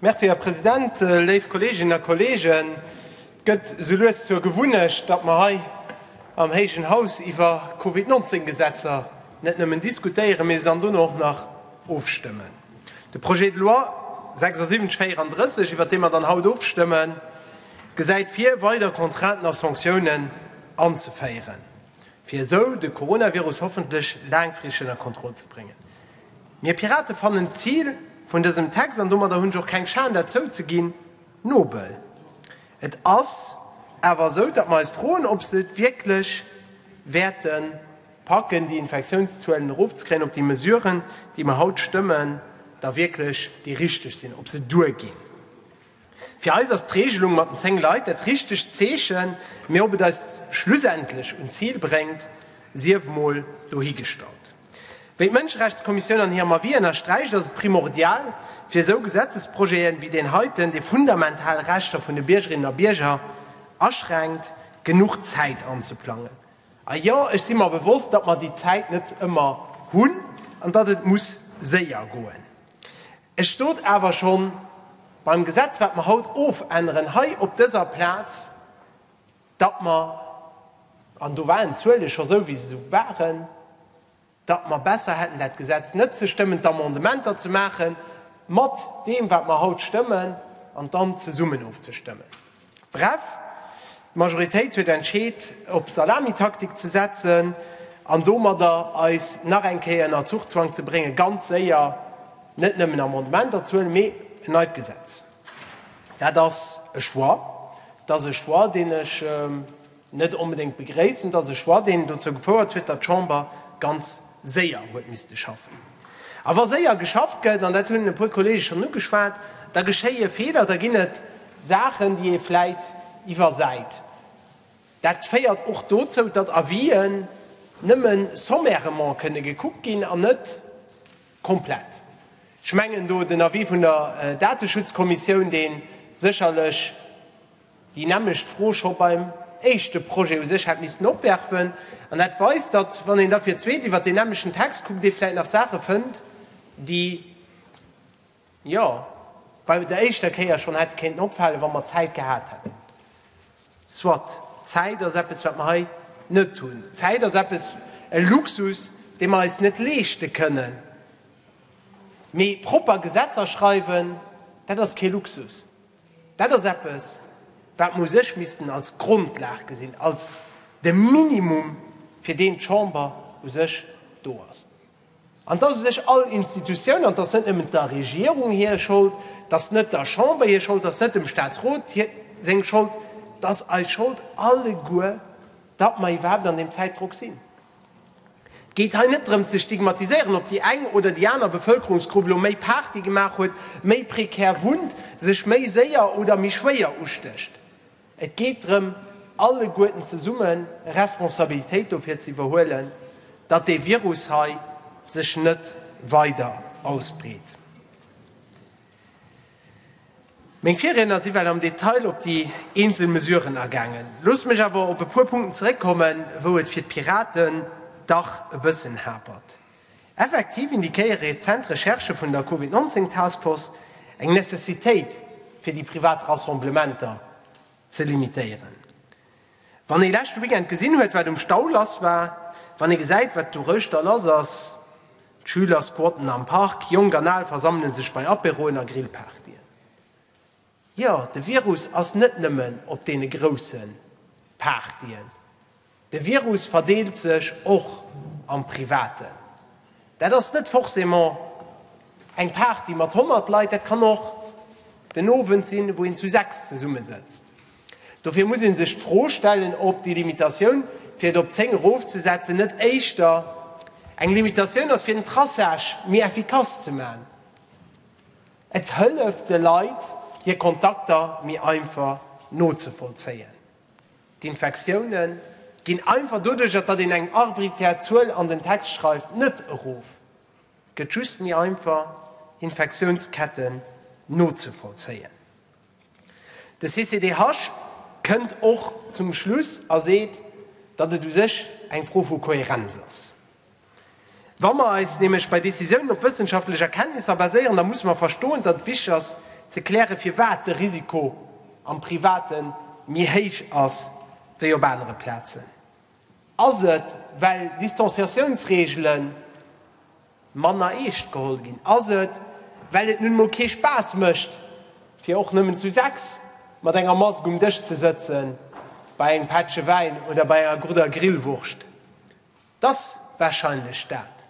Merci, Här President. Léif Kolleeginnen a Kolleegen, et gëtt esou lues zur Gewunnecht, datt mer hei am héijen Haus iwwer Covid-19-Gesetzer net nëmmen diskutéieren, mee se dann dono och nach ofstëmmen. De Projet de loi 7634, iwwer dee mer dann haut ofstëmmen, gesäit vir, weider Contrainten a Sanctiounen anzeféieren, fir esou de Coronavirus hoffentlech laangfristeg ënner Kontroll ze bréngen. Mir Pirate fannen d'Zil vun dësem Text, an domadder hunn ech och keng Schan dat zouzeginn, nobel. Et ass awer esou, datt mer eis froen, ob se et wierklech wäerte packen, déi Infektiounszuelen erofzekréien, ob déi Mesuren, déi mer haut stëmmen, da wierklech déi richteg sinn, ob se duerginn. Fir eis ass d'Regelung mat den 10 Leit dat richtegt Zeechen, mee ob et eis schlussendlech un d'Zil bréngt, sief emol dohigestallt. Wéi d'Mënscherechtskommissioun an hirem Avis ënnersträicht, ass et primordial, fir esou Gesetzesprojete wéi deen heiten, dee fundamental Rechter vun de Biergerinnen a Bierger aschränkt, genuch Zäit anzeplangen. A jo, ech si mer bewosst, datt mer déi Zäit net ëmmer hunn an datt et muss séier goen. Ech sot awer schonn, beim Gesetz, wat mer haut ofänneren hei op dëser Plaz, datt mer, an do waren d'Zuele scho sou, wéi se se waren, datt mer besser hätten, dat Gesetz net ze stëmmen, d'Amendementer ze maache mat deem, wat mer haut stëmmen, an dann zesummen ofzestëmmen. Bref, d'Majoritéit huet entscheet op Salamitaktik ze setzen an domadder eis nach eng Kéier ënner Zuchzwang ze bréngen, ganz séier net nëmmen Amendementer ze huelen, mee en neit Gesetz. Dat ass e Choix, dat ass e Choix, deen ech, net onbedéngt begréissen, dass e Choix, deen dozou gefouert huet, datt d'Chamber ganz séier huet misste schaffen. A wa séier geschafft gëtt, an dat hunn e puer Kollege schonn ugeschwat, da geschéie Feeler, da ginn et Saachen, déi ee vläit iwwersäit. Dat féiert och dozou, datt Avisen nëmme sommairement kënne gekuckt ginn an net komplett. Ech mengen do den Avis vun der Dateschutzkommissioun, dee sécherlech, déi nämmlecht Fro scho beim éischte Projet u sech hätt missten opwerfen, an dat weist, datt, wann een da fir d'zweet iwwert deen nämmlechten Text kuckt, ee vläicht nach Saache fënnt, déi, jo, bei der éischter Kéier schonn hätte kéinten opfalen, wa mer Zäit gehat hätten. Soit, Zäit ass eppes, wat mer hei net hunn. Zäit ass eppes, e Luxus, dee mer eis net leeschte kënnen. Mee propper Gesetzer schreiwen, dat ass kee Luxus. Dat ass eppes, wat mer u sech missten als Grondlag gesinn, als de Minimum, fir deen d'Chamber u sech do ass. An et ass u sech all Institutioun, an et ass net nëmmen der Regierung hir Schold, et ass net der Chamber hir Schold, et ass net dem Statsrot seng Schold, et ass eis Schold alleguer, datt mer iwwerhaapt an deem Zäitdrock sinn. Et geet hei net drëm ze stigmatiséieren, ob déi eng oder déi aner Bevëlkerungsgrupp elo méi Party gemaach huet, méi prekär wunnt, sech méi séier oder méi schwéier ustécht. Et geet drëm, alleguerten zesumme Responsabilitéit dofir ze iwwerhuelen, datt dee Virus hei sech net weider ausbreet. Meng Virriedner si well am Detail op déi eenzel Mesuren agaangen. Loosst mech awer op e puer Punkten zeréckkommen, wou et fir d'Piraten dach e bëssen hapert. Effektiv indiquéiere rezent Recherchë vun der Covid 19 Taskforce eng Necessitéit, fir déi privat Rassemblementer ze limitéieren. Wann ee leschte Weekend gesinn huet, wat um Stau lass war, wann ee gesäit, wat douréischter lass ass, d'Schüler squatten am Park, Jonk an Al versammele sech bei Aperoen a Grillpartyen, jo, de Virus ass net nëmmen op deene grousse Partyen, de Virus verdeelt sech och am Privaten. Dat ass net forcément eng Party mat 100 Leit, dat kann och den Owend sinn, wou een zu sechs zesummesëtzt. Dofir muss ee sech d'Fro stellen, ob déi Limitatioun, fir et op 10 erofzesetzen, net éischter eng Limitatioun ass, fir den Traçage méi effikass ze maachen. Et hëlleft de Leit, hir Kontakter méi einfach nozevollzéien. D'Infektioune ginn einfach doduerch, datt een eng arbriträr Zuel an den Text schreift, net erof. Et gëtt just méi einfach, Infektiounsketten nozevollzéien. De CCDH kënnt och zum Schluss a seet, datt et u sech eng Fro vu Kohärenz ass. Wa mer eis nämlech bei Decisiounen op wëssenschaftlech Erkenntnisser baséieren, da musse mer verstoen, datt et wichteg ass ze klären, firwat de Risiko am Private méi héich ass wéi op anere Plazen. Ass et, well Distanciatiounsreegelen, manner eescht geholl ginn, ass et, well et nun emol kee Spaass mécht, fir och nëmmen zu sechs mat enger Mask um Dësch ze sëtzen, bei engem Pättche Wäin oder bei enger gudder Grillwurscht. T'ass warscheinlech dat.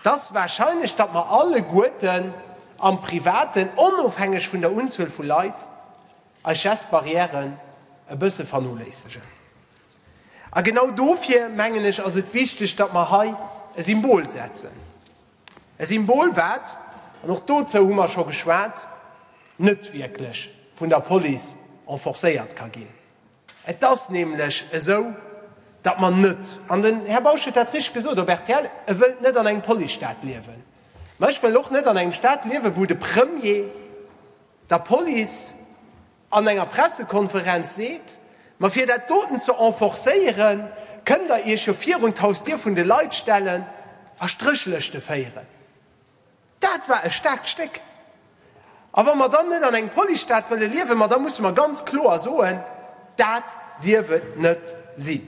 T'ass warscheinlech, datt mer alleguerten am Privaten, onofhängeg vun der Unzuel vu Leit, eis Geste barrièren e bësse vernoléissegen. A genau dofir, mengen ech, ass et wichteg, datt mer hei e Symbol setzen. E Symbol, wat, an och dozou hu mer scho geschwat, net wierklech vun der Police enforcéiert ka ginn. Et ass nämlech esou, datt mer net, an den Här Bausch huet dat richtig gesot op rtl, e wëllt net an engem Policestaat liewen. Mä ech wëll och net an engem Staat liewen, wou de Premier der Police, an enger Pressekonferenz seet, Ma fir dat doten ze enforcéieren, kënnt der iech jo virun d'Hausdier vun de Leit stellen a Stréchlëschte féieren. Dat war e staarkt Stéck. A wa mer dann net an engem Policestaat wëlle liewen, ma da musse mer ganz kloer soen, Dat dierf et net sinn.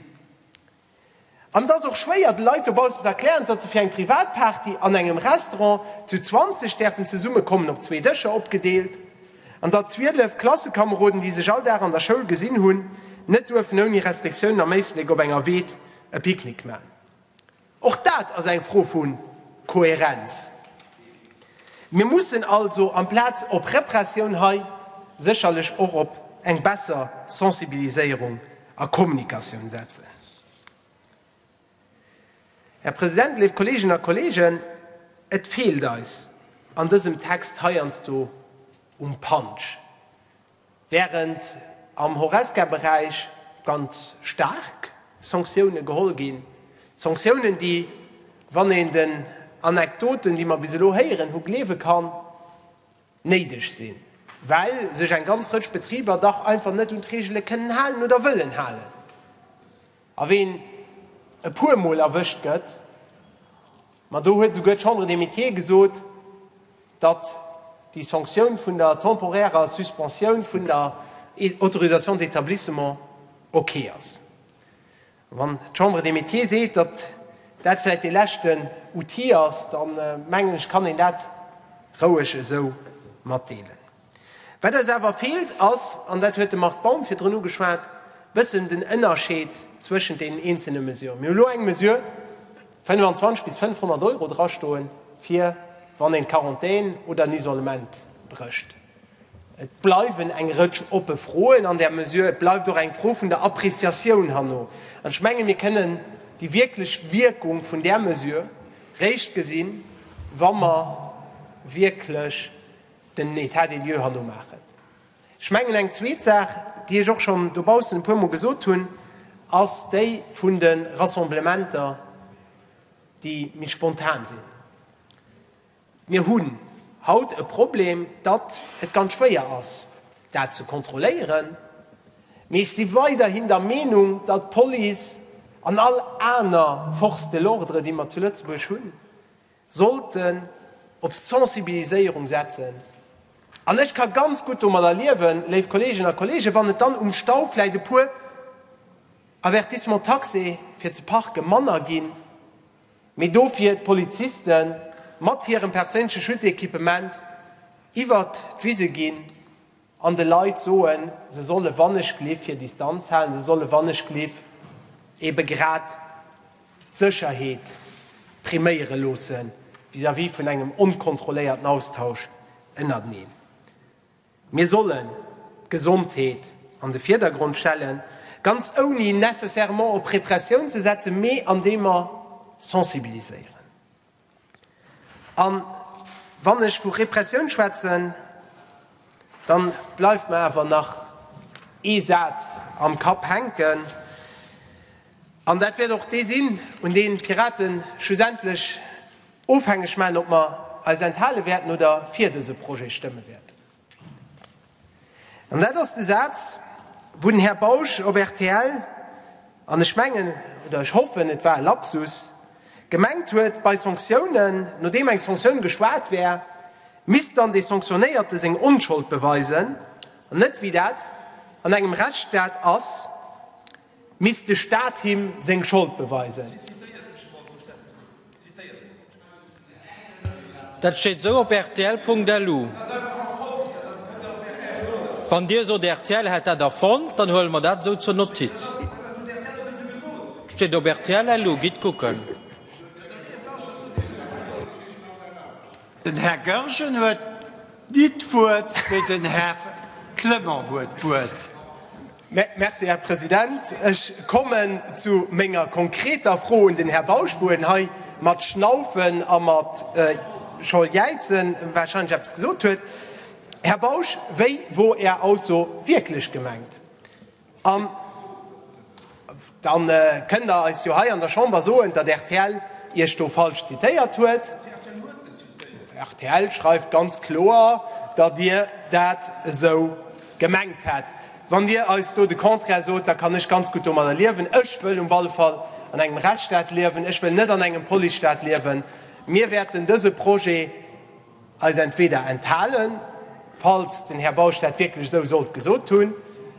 An et ass och schwéier de Leit dobaussen ze erklären, datt se fir eng Privatparty an engem Restaurant zu 20 däerfen zesummekommen, op zwee Dëscher opgedeelt, an datt 12 Klassekameroden, déi sech all Dag an der Schoul gesinn hunn, net duerfen ouni Restriktiounen am Éislek op enger Wied e Picknick maachen. Och dat ass eng Fro vu Kohärenz. Mir mussen also amplaz op Repressioun hei sécherlech och op eng besser Sensibiliséierung a Kommunikatioun setzen. Här President, léif Kolleeginnen a Kolleegen, et feelt eis an dësem Text heiansdo um Punch. Während am Horesca-Beräich ganz staark Sanktiounen geholl ginn, Sanktiounen, déi, wann een den Anekdoten, déi mer bis elo héieren hu gleewe kann, néideg sinn, well sech eng ganz Rëtsch Betriber dach einfach net un d'Reegele kënnen halen oder wëllen halen. A ween e puer Mol erwëscht gëtt, ma do huet esouguer d'Chambre des Métiers gesot, datt déi Sanktioun vun der temporärer Suspensioun vun der Autorisation d'établissement ok ass. Wann d'Chambre des Métiers seet, datt dat vläicht dee leschten Outil ass, da mengen ech, kann een dat roueg esou matdeelen. Wat eis awer feelt ass, an dat huet de Marc Baum virdrun ugeschwat, e bëssen den Ënnerscheed zwëschent deenen eenzele Mesurë. Mir hu lo eng Mesure 25 bis 500 Euro drastoen, fir wann een d'Quarantän oder en Isolement brécht. Et bleiwen eng Rëtsch oppe Froen an där Mesure. Et bleift och eng Fro vun der Appréciatioun herno. An ech mengen, mir kënnen déi wierklech Wierkung vun där Mesure réischt gesinn, wa mer wierklech den État des lieux herno maachen. Ech mengen, eng zweet Saach, déi ech och schonn dobaussen e puermol gesot hunn, ass déi vun de Rassemblementer, déi méi spontan sinn. Mir hunn haut e Problem, datt et ganz schwéier ass, dat ze kontrolléieren. Mee ech si weiderhin der Meenung, datt d'Police an all aner Forces de l'ordre, déi mer zu Lëtzebuerg hunn, sollten op Sensibiliséierung setzen. An ech ka ganz gutt domadder liewen, léif Kolleeginnen a Kolleegen, wann et dann um Stau vläicht e puer Avertissements taxés fir ze parke manner ginn. mee dofir d'Poliziste mat hirem perséinleche Schutzequipement iwwert d'Wise ginn an de Leit soen, se solle wannechgelift hir Distanz halen, se solle wannechgelift ebe grad d'Sécherheet priméiere loosse vis-à-vis vun engem onkontrolléierten Austausch ënnerteneen. Mir sollen d'Gesondheet an de Virdergrond stellen, ganz ouni nécessairement op Repressioun ze setzen, mee andeem mer sensibiliséieren. A wann ech vu Repressioun schwätzen, da bleift mer awer nach ee Saz am Kapp hänken, an dat wäert och dee sinn, un dee d'Piraten schlussendlech, Ofhängeg maachen, ob mer eis enthale wäerten oder fir dese Projet stëmme wäerten. An dat ass de Saz, wou den Här Bausch op rtl, an ech mengen, oder ech hoffen, et war e Lapsus, gemengt huet, bei Sanktiounen, nodeem eng Sanktioun geschwat wär, misst dann dee Sanktionéierte seng Onschold beweisen, an net, wéi dat an engem Rechtsstaat ass, Misst de Staat him seng Schold beweisen? Dat steet esou op rtl.lu. Wann Dir sot, rtl hätt dat erfonnt, dann huele mer dat esou zur Notiz. Dat steet op rtl.lu, gitt kucken. Den Här Goergen huet nit d'Wuert, mee den Här Clement huet d'Wuert. Merci, Här President. Ech kommen zu menger konkreter Fro un den Här Bausch, wou en hei mat Schnaufen a mat scho jäizen warscheinlech eppes gesot huet. Här Bausch, wéi wor Är Ausso wierklech gemengt? Dann kënnt der eis jo hei an der Chamber soen, datt rtl iech do falsch zitéiert huet. Rtl schreift ganz kloer, datt dir dat esou gemengt hätt. Wann dir eis do de Contraire sot, da kann ech ganz gutt domadder liewen. Ech wëll um alle Fall an engem Rechtsstaat liewen. Ech wëll net an engem Policestaat liewen. Mir wäerten dëse Projet, Eis entweder enthalen, falls den Här Bausch dat wierklech esou sollt gesot hunn.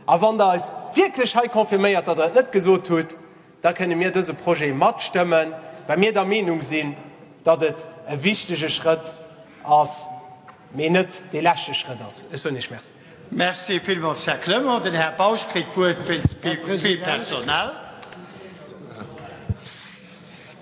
A wann Der eis wierklech hei confirméiert, datt Der et net gesot hutt, da kënne mir dëse Projet matstëmmen, well mir der Meenung sinn, datt et e wichtige Schrëtt ass, mee net dee leschte Schrëtt ass. Ech soen Iech Merci. Merci villmools, Här Clement. Den Här Bausch kritt d'Wuert wéinst Vue personnelle.